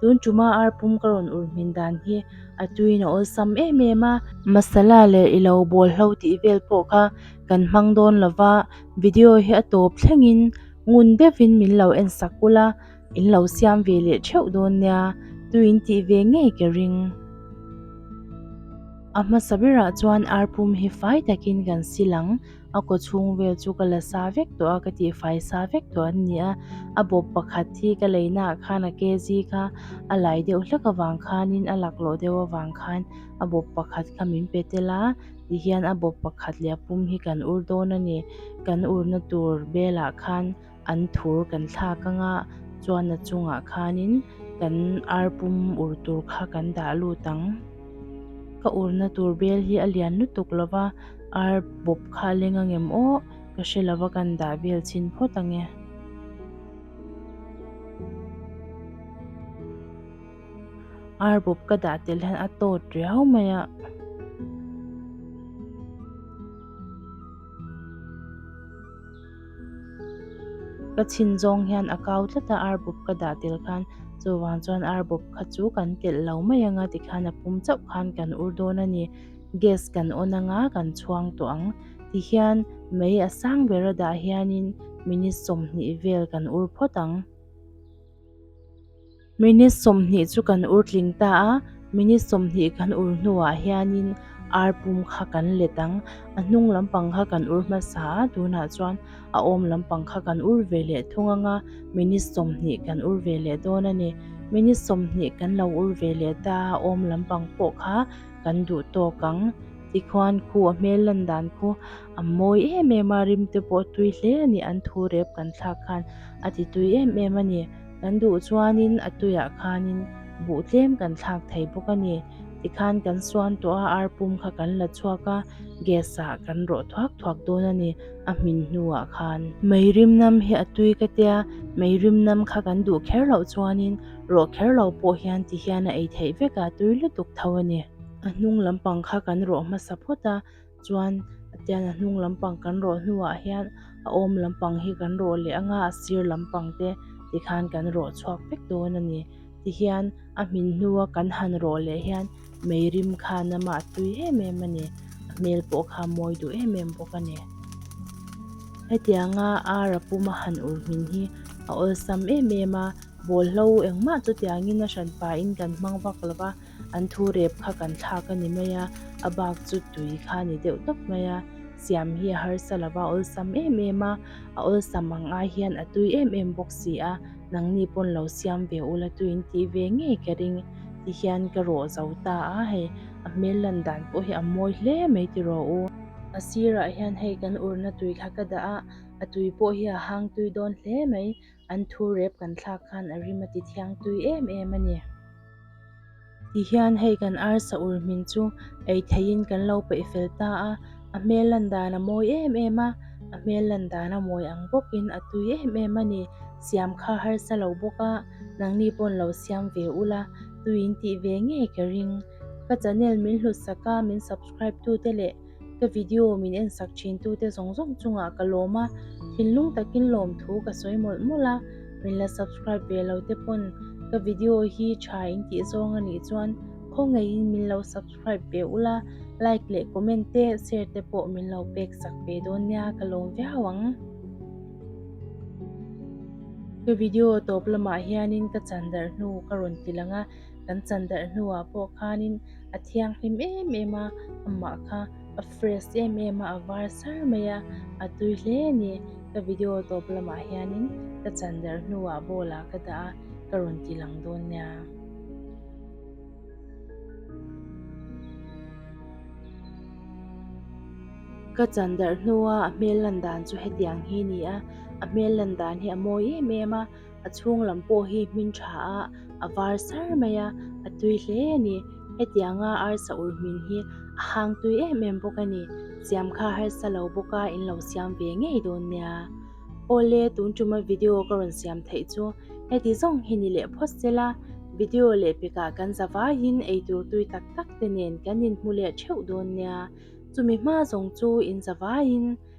tun ṭuma ar pum ka rawn ur hmin dan hi a tuiin a awlsam em em a. Masala leh i lo bawlhlo tih vel pawh kha kan hmang dawn lo va, video hi a tawp thlengin ngun deuhin min lo en sak kulh a, in lo siam ve leh ṭheuh dawn nia tuiin tih ve ngei ka ring. A hmasa berah chuan ar pum hi fai takin kan silh ang. A kaw chhung vel chu ka la sa vek tawh a, ka tih fai sa vek tawh an ni a. A bawp pakhat hi ka lei naah khan a kg kha a lai deuh hlek avang khanin a laklawh deuh avang khan a bawp pakhat kha min pe tel a, tihian a bawp pakhat leh a pum hi kan ur dawn a ni. Kan urna tur belah khan. an thur kan thlak anga chuan a chungah khanin kan arpum ur tur kha kan dah lut ang. Ka urna tur bel hi a lian lutuk lo va, ar bawp kha a leng angem aw, ka hre lo va kan dah vel chhin phawt ange. Ar bawp ka dah telh hian a tawt riau mai a. Ka chhin zawng hian a kau tlat a, ar bup ka dah tel khan chuvang chuan ar bup kha chu kan telh lo mai ang a tikhan a pum chauh khan kan ur dawn a ni. Gas kan on anga kan chhuang tawh ang tihian mei a sang ber a dah hianin minute sawmhnih vel kan ur phawt ang. Minute sawmhnih chu kan ur tling ta a, minute sawmhnih kan ur hnuah hianin ar pum kha kan let ang. A hnung lampang kha kan ur hmasa a, tunah chuan a awm lampang kha kan ur ve leh thung ang a, minute sawmhnih kan ur ve leh dawn a ni. Minute sawmhnih kan lo ur ve leh ta a, a awm lampang pawh kha kan duh tawk ang. Tikhuan khu a hmel lan dan khu a mawi em em a, rim te pawh tui hle a ni an thu rep kan thlak khan a ti tui em em a ni. Kan duh chuanin a tuiah khanin buh tlem kan thlak thei bawk a ni. Tikhan kan suan tawh a, ar pum kha kan la chhuak a, gas ah kan rawh thuak thuak dawn a ni, a hmin hnuah khan. Mei rimnam hi a tui ka tia, mei rimnam kha kan duh kher loh chuanin rawh kher lo pawh hian tihian a ei theih vek a, tui lutuk tho a ni. A hnung lampang kha kan rawh hmasa phawt a. chuan atian a hnung lampang kan rawh hnuah hian a awm lampang hi kan rawh leh ang a a sir lampang te tikhan kan rawh chhuak vek dawn a ni tihian a hmin hnua kan han rawh leh hian meirim kha nama a tui em em a ni a hmel pawh kha a mawi duh em em bawk a ni hetiang a ar a puma han ulh hmin hi a awlsam em em a bawlhlo engmah chutiang in a hran pain kan hmang vak lo va. An thu rep kha kan thlak a ni mai a, a bak chu tui kha a ni deuh tawp mai a. Siam hi a harsa lo va, a awlsam em em a, a awlsam ang ai hian a tui em em bawk si a, nangni pawn lo siam ve ula tuiin tih ve ngei ka ring ti hian ka rawh zo ta a, hei a hmel lan dan pawh hi a mawi hle mai ti rawh u. A sirah hian hei kan urna tui kha ka dah a, a tui pawh hi a hang tui dawn hle mai. An thu rep kan thlak khan a rim a ti thiang tui em em a ni. Tihian hei kan arsa ur hmin chu ei theihin kan lo peih fel ta a, a hmel landan a mawi em em a, a hmel landan a mawi ang bawkin a tui em em a ni. Siam kha harsa lo bawk a, nangni pawn lo siam ve ula, tuiin tih ve ngei ka ring. Ka channel min hlut sak a, min subscribe tute leh. Ka video min en sak thin tu te zawng zawng chungah ka lawm a, thinlung takin lawm thu ka sawi mawlh mawlh a, min la subscribe ve lo te pawn ka video hi tha in tih zawng a nih chuan khaw ngei in min lo subscribe ve ula, like leh comment te share te pawh min lo pek sak ve dawn nia ka lawm viau ang. Ka video tawp lamah hianin ka chan darh hnu ka rawn ti lang a. kan chan darh hnuah pawh khanin a thianghlim em em a, amah kha a fresh em em a, a var sar mai a, a tui hle a ni. Ka video tawp lamah hianin ka chan darh hnuah bowl ah ka dah a, ka rawn ti lang dawn nia. Ka chan darh hnua a hmel lan dan chu hetiang hi a ni a, a hmel lan dan hi a mawi em em a. a chhung lam pawh hi hmin tha a a var sar mai a a tui hle a ni hetianga arsa ur hmin hi a hang tui em em bawk a ni siam kha harsa lo bawk a in lo siam ve ngei dawn nia awle tun tuma video ka rawn siam theih chu heti zawng hi ni leh phawt zel a video leh pekah kan za vaiin ei tur tui tak tak te nen kan in hmu leh theuh dawn nia chumi hma zawng chu in za vaiin.